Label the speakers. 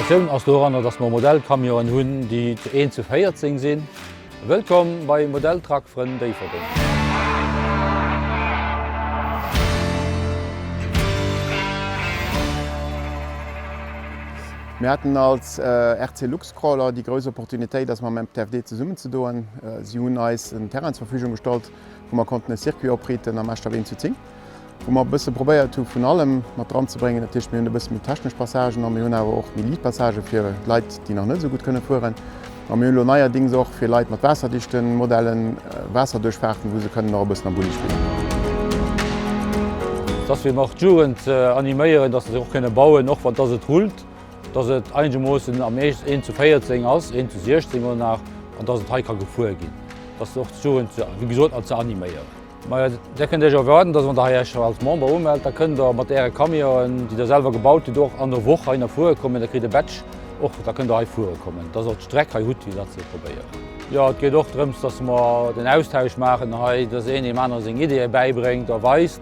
Speaker 1: D'Innovatioun ass doranner, dass mer Modellcamionen hunn, déi zu 1 zu 14 sinn. Wëllkomm bei Modelltruck Frënn Déifferdeng! Mir haten
Speaker 2: als RC Lux. Crawler, déi grouss Opportunitéit ass mam MTFD zesummen ze doen. Si hunn eis en Terrain zur Verfügung gestallt, wou mer konnten e Circuit opriiten am Eschdaf 1 zu 10, wou mer e bësse probéiert hu vun allem mat dran ze bréngen. Dat heescht, mir hunn e bësse méi technesch Passagen an mir hunn awer och méi liit Passagen fir Leit, déi nach net esou gutt kënne fueren. A mir hunn elo neierdings och fir Leit mat waasserdichte Modellen Waasserduerchfahrten, wou se kënnen och e bëssen am Bulli spillen.
Speaker 1: Dass mir mar d'Jugend animéieren, dass se och kënne bauen, och wann dass et rullt. dass et einegermoossen am Eescht een zu 14 ass, een zu 16 oder nach, an dass et hei ka gefuer ginn, dass och d'Jugend, wéi gesot, ze animéieren. Majo, Dir kënnt Iech erwaarden, dass wann Der hei Iech als Member umellt, da kënnt Der mat Äre Camionen, déi Der selwer gebaut hutt, och an der Woch hei nach fuere kommen. Der kritt e Badge och, da kënnt Der hei fuere kommen, dass Der och d'Streck hei hutt, fir dat ze probéieren. Jo, et geet och drëms, dass mer den Austausch maachen hei, dass een deem anere seng Ideeë bäibréngt a weist.